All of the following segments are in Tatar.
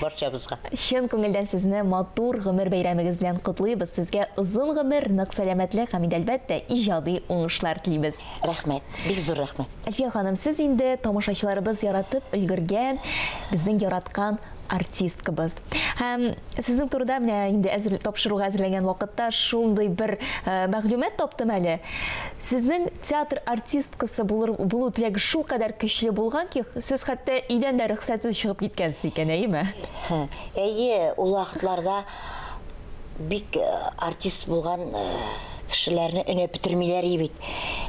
барчабызга. Чын күңелдән сезне матур гомер бәйрәмегез белән котлыйбыз, сезгә озын гомер, нык сәламәтлек һәм инде әлбәттә иҗади уңышлар телибез. Рәхмәт, бик зур рәхмәт. Әлфия ханым, сез инде тамашачыларыбыз яратып өлгергән, безнең яраткан артисткабыз. Һәм сезнең турыда менә инде әзер тапшыруга әзерләнгән вакытта шундый бер мәгълүмат таптым әле. Сезнең Театр артисткасы булыр булу теләге шулкадәр көчле булган ки, сез хәтта өйдән дә рөхсәтсез чыгып киткәнсез икән, әйеме? Әйе, ул вакытларда бик артист булган кешеләрне өнәп бетермиләр ие бит.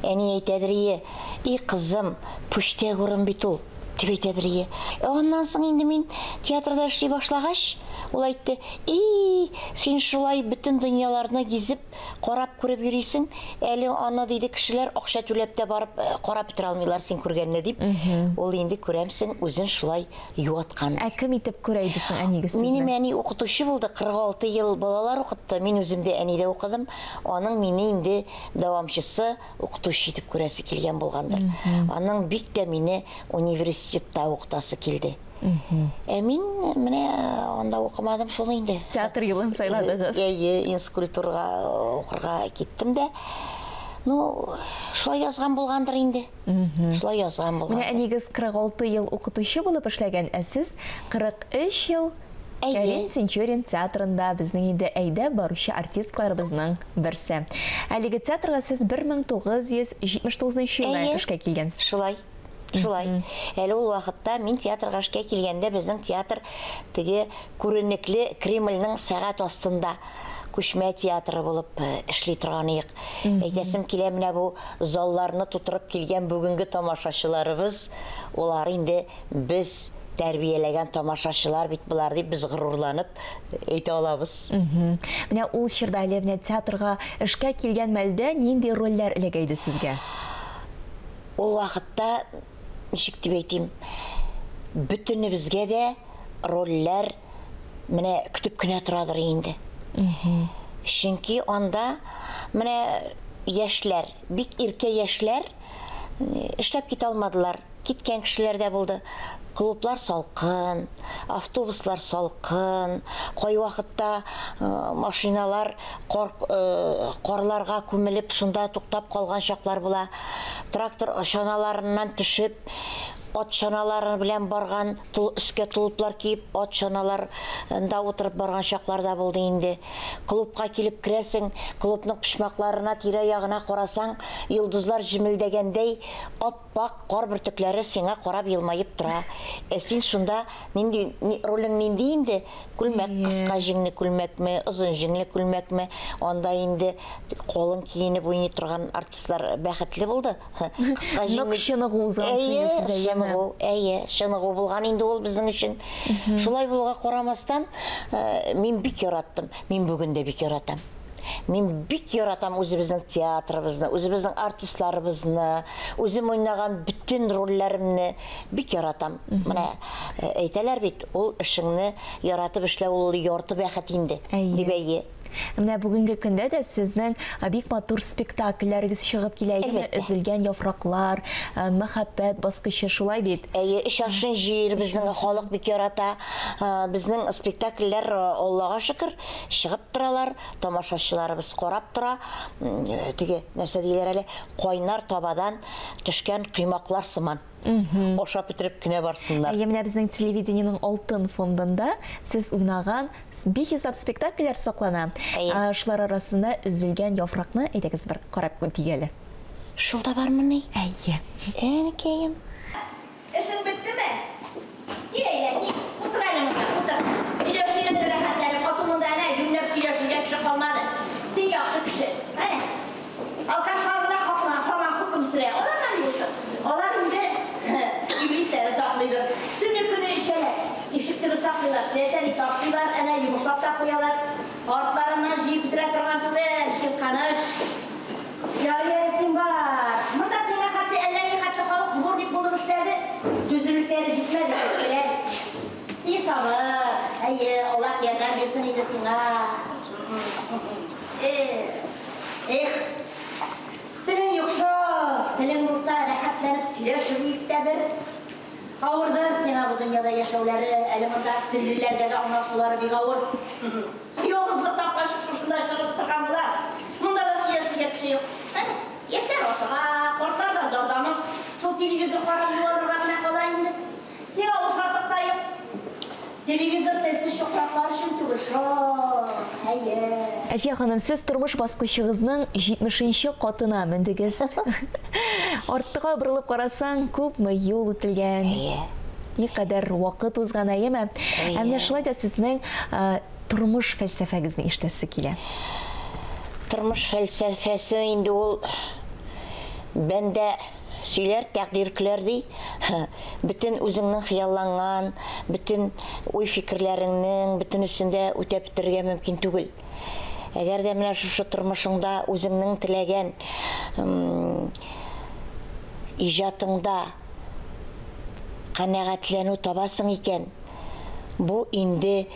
Әни әйтәдер ие, И кызым, пүчтәк урын бит ул, дип әйтәдер ие. Ә аннан соң инде мин театрда эшли башлагач, ул әйтте, И, син шулай бөтен дөньяларны гизеп, Карап күреп йөрисең, әле аны диде кешеләр акча түләп тә барып э, карап бетерә алмыйлар син күргәнне дип. Ул инде күрәмсең үзен шулай юаткан. Ә кем итеп күрә иде соң әнигез сезне? Минем әни укытучы булды, 46 ел балалар укытты. Мин үзем дә әнидә укыдым. Аның мине инде дәвамчысы, укытучы итеп күрәсе килгән булгандыр. Аның бик тә мине университетта укытасы килде. Ә мин менә анда укымадым шул инде. Театр юлын сайладыгыз. Әйе, инскультурга укырга киттем дә. Ну, шулай язган булгандыр инде. Шулай язган булган. Менә әнигез 46 ел укытучы булып эшләгән, ә сез 43 ел Кәрим Тинчурин театрында безнең инде әйдә баручы артистларыбызның берсе. Әлеге театрга сез 1979 елда эшкә килгәнсез. Шулай. Шулай. Әле ул вакытта мин театрга эшкә килгәндә безнең театр теге күренекле Кремльнең сәгать астында күчмә театры булып э, эшли торган иек. Әйтәсем килә менә бу залларны тутырып килгән бүгенге тамашачыларыбыз, олар инде без тәрбияләгән тамашачылар бит болар дип без горурланып әйтә алабыз. Менә ул чорда әле менә театрга эшкә килгән мәлдә нинди рольләр эләгә иде сезгә? Ул вакытта, ничек дип әйтим, бөтенебезгә дә рольләр менә көтеп кенә торадыр инде. Чөнки анда менә яшьләр, бик иркә яшьләр эшләп китә алмадылар. Киткән кешеләр дә булды. Клублар салкын, автобуслар салкын, кайвакытта машиналар кар, карларга күмелеп, шунда туктап калган чаклар була. Трактор чаналарыннан төшеп, ат чаналары белән барган, тол, өскә толыплар киеп, ат чаналарында утырып барган чаклар да булды инде. Клубка килеп керәсең, клубның почмакларына, тирә-ягына карасаң, йолдызлар җемелдәгәндәй ап-ак кар бөртекләре сиңа карап елмаеп тора. Ә син шунда нинди, ролең нинди инде? Күлмәк, Әйе. кыска җиңле күлмәкме, озын җиңле күлмәкме, анда инде калын киенеп уйный торган артистлар бәхетле булды. Ха, Кыска Нык җиңле чыныгу узган Әйе, сыйны сиз, әйеме? чыныгу, әйе, чыныгу булган инде ул безнең өчен. Шулай булуга карамастан, э, мин бик яраттым, мин бүген дә бик яратам. Мин бик яратам үзебезнең театрыбызны, үзебезнең артистларыбызны, үзем уйнаган бөтен рольләремне Бик яратам. Менә э, әйтәләр бит, ул эшеңне яратып эшләү ул ярты бәхет инде, Әйе. дип әйе. Менә бүгенге көндә дә сезнең э, бик матур спектакльләрегез чыгып килә, әйеме? Әлбәттә. Өзелгән яфраклар, э, мәхәббәт баскычы, шулай бит? Әйе, эш ашын җыер, безнең халык бик ярата. Э, Безнең спектакльләр, э, Аллага шөкер, чыгып торалар, тамашачыларыбыз карап тора. М, э, Теге, нәрсә диләр әле, кайнар табадан төшкән коймаклар сыман. Ашап бетереп кенә барсыннар. Әйе, менә безнең телевидениенең алтын фондында сез уйнаган бихисап спектакльләр саклана. Ә, шулар арасында Өзелгән яфракны әйдәгез бер карап үтик әле. Шул да бармыни? Әйе. Әнекәем. Эшең беттеме? Кил әйдә, кил, утыр әле монда, утыр. Сөйләшү йөрде рәхәтләнеп, хатыныңда әнә юньләп сөйләшергә кеше калмады. Син яхшы кеше. Әнә, алкашлар гына хакына һаман хөкем сөрә. Аларга ни булсын? Алар инде иблисләре саклыйдыр. Төне-көне эчәләр. Ишек төбен саклыйлар, теләсә-ни ташлыйлар, әнә йомышлап та куялар. Артларыннан җыеп бетерә торган түгел, Чирканыч. Ярый-ярый, син бар. Монда сиңа хәтле әллә ни хәтле халык дворник булып эшләде, түземлекләре җитмәде, читтеләр. Син сабыр, әйе, Аллаһ ярдәм бирсен инде сиңа. Эх, эх. Телең юк шул. Телең булса, рәхәтләнеп сөйләшер идек тә бер. Авырдыр сиңа бу дөньяда яшәүләре, әле монда тереләргә дә аңлашулары бик авыр. Ялгызлыктан качып шушында чыгып утырган була. Монда да сөйләшергә кеше юк. Әнә, яшьләр ашыга, картлар да зарланып, шул телевизор карап юанырга гына кала инде. Сиңа ул шатлык та юк. Телевизор телсез чукраклар өчен түгел шул, әйе. Әлфия ханым, сез тормыш баскычыгызның җитмешенче катына мендегез. Артка борылып карасаң, күпме юл үтелгән. Әйе. Никадәр вакыт узган, әйеме? Әйе. Ә менә шулай да сезнең тормыш фәлсәфәгезне ишетәсе килә. Тормыш фәлсәфәсе инде ул бәндә Сөйләр тәкъдир көләр, ди. Һы, бөтен үзеңнең хыялланган, бөтен уй-фикерләреңнең бөтенесен дә үтәп бетерергә мөмкин түгел. Әгәр дә менә шушы тормышыңда үзеңнең теләгән иҗатыңда канәгатьләнү табасың икән, бу инде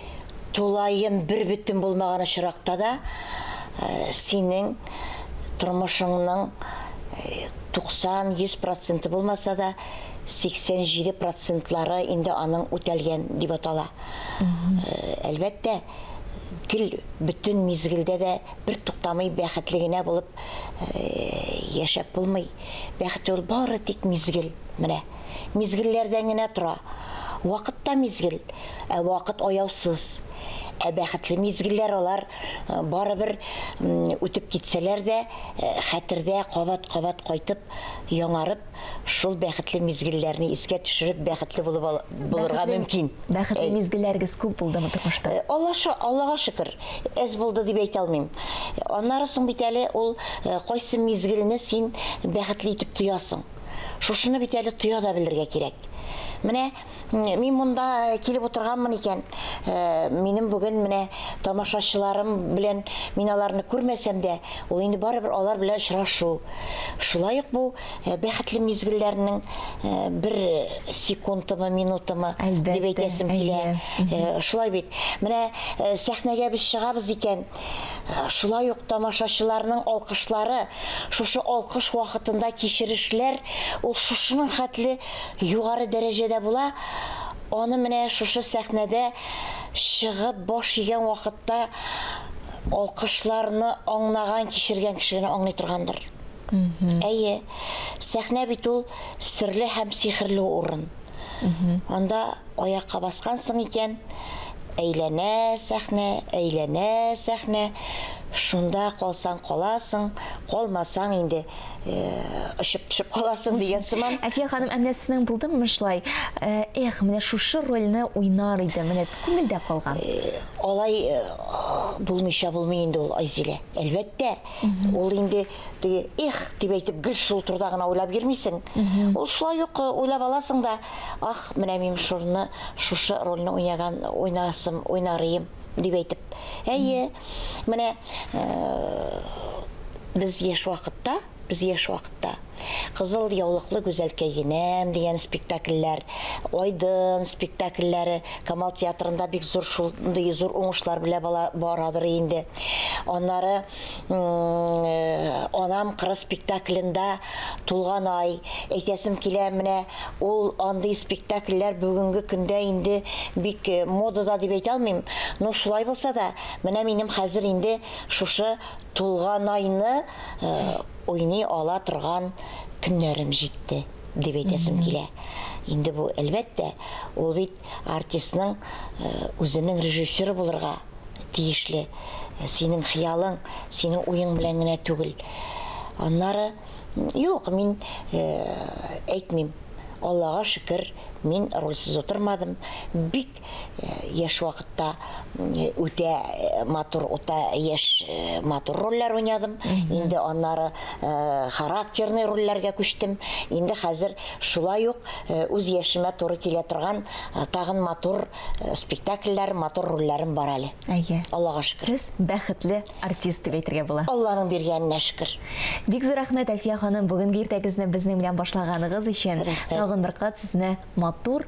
Тулаем бербөтен булмаган очракта да синең тормышыңның 90-100 проценты булмаса да, 87 процентлары инде аның үтәлгән дип атала. Әлбәттә, гел бөтен мизгелдә дә бертуктамый бәхетле генә булып яшәп булмый. Бәхет ул бары тик мизгел. Менә. мизгелләрдән генә тора. Вакыт та мизгел, ә вакыт аяусыз. Ә бәхетле мизгелләр алар э, барыбер үтеп китсәләр дә, э, хәтердә кабат-кабат кайтып, яңарып, шул бәхетле мизгелләрне искә төшереп, бәхетле булып булырга мөмкин. Бәхетле мизгелләрегез күп булдымы тормышта? Э, Аллаша, Аллага шөкер, әз булды дип әйтә алмыйм. Аннары соң бит әле ул кайсы мизгелне син бәхетле итеп тоясың? Шушыны бит әле тоя да белергә кирәк. Менә мин монда килеп утырганмын икән, э, минем бүген менә тамашачыларым белән мин аларны күрмәсәм дә, ул инде барыбер алар белән очрашу. Шулай ук бу э, бәхетле мизгелләрнең э, бер секундымы, минутымы дип әйтәсем килә. Э, шулай бит. Менә э, сәхнәгә без чыгабыз икән, Шулай ук тамашачыларның алкышлары, шушы алкыш вакытында кичерешләр ул шушының хәтле югары дәрәҗәдә була, аны менә шушы сәхнәдә чыгып баш игән вакытта алкышларны аңнаган, кичергән кеше генә аңлый торгандыр. Әйе, сәхнә бит ул серле һәм сихерле урын. Анда аякка баскансың икән, әйләнә сәхнә, әйләнә сәхнә, шунда калсаң каласың, калмасаң инде э, очып төшеп каласың дигән сыман. Әлфия ханым, ә менә сезнең булдымы шулай? Э, Эх, менә шушы рольне уйнар идем, менә күңелдә калган. Э, алай э, булмыйча булмый инде ул Айзилә. Әлбәттә, ул инде Теге их дип әйтеп гел шул турыда гына уйлап йөрмисең. Ул шулай ук э, уйлап аласың да, ах, менә мин шурны, шушы рольне уйнаган, уйнасым, уйнарыйм дип әйтеп. Әйе, менә э, без яшь вакытта, без яшь вакытта Кызыл яулыклы гүзәлкәй генәм дигән спектакльләр, Айдын спектакльләре Камал театрында бик зур шундый зур уңышлар белә бала- барадыр инде. Аннары Анам кыры спектаклендә тулган ай, әйтәсем килә, менә ул андый спектакльләр бүгенге көндә инде бик модада дип әйтә алмыйм, но шулай булса да, менә минем хәзер инде шушы тулган айны уйный ала торган көннәрем җитте, дип әйтәсем килә. Инде бу, әлбәттә, ул бит Артистның үзенең режиссеры булырга тиешле. Синең хыялың, синең уең белән генә түгел. Аннары, юк, мин әйтмим. Аллага шөкер, мин рольсез утырмадым. Бик яшь вакытта үтә матур, үтә яшь матур рольләр уйнадым. Инде аннары характерный рольләргә күчтем. Инде хәзер Шулай ук үз яшемә туры килә торган тагын матур спектакльләр, матур рольләрем бар әле. Әйе. Аллага шөкер. Сез бәхетле артист дип әйтергә була. Алланың биргәненә шөкер. Бик зур рәхмәт, Әлфия ханым, бүгенге иртәгезне безнең белән башлаганыгыз өчен. Рәхмәт. Тагын бер кат сезне матур,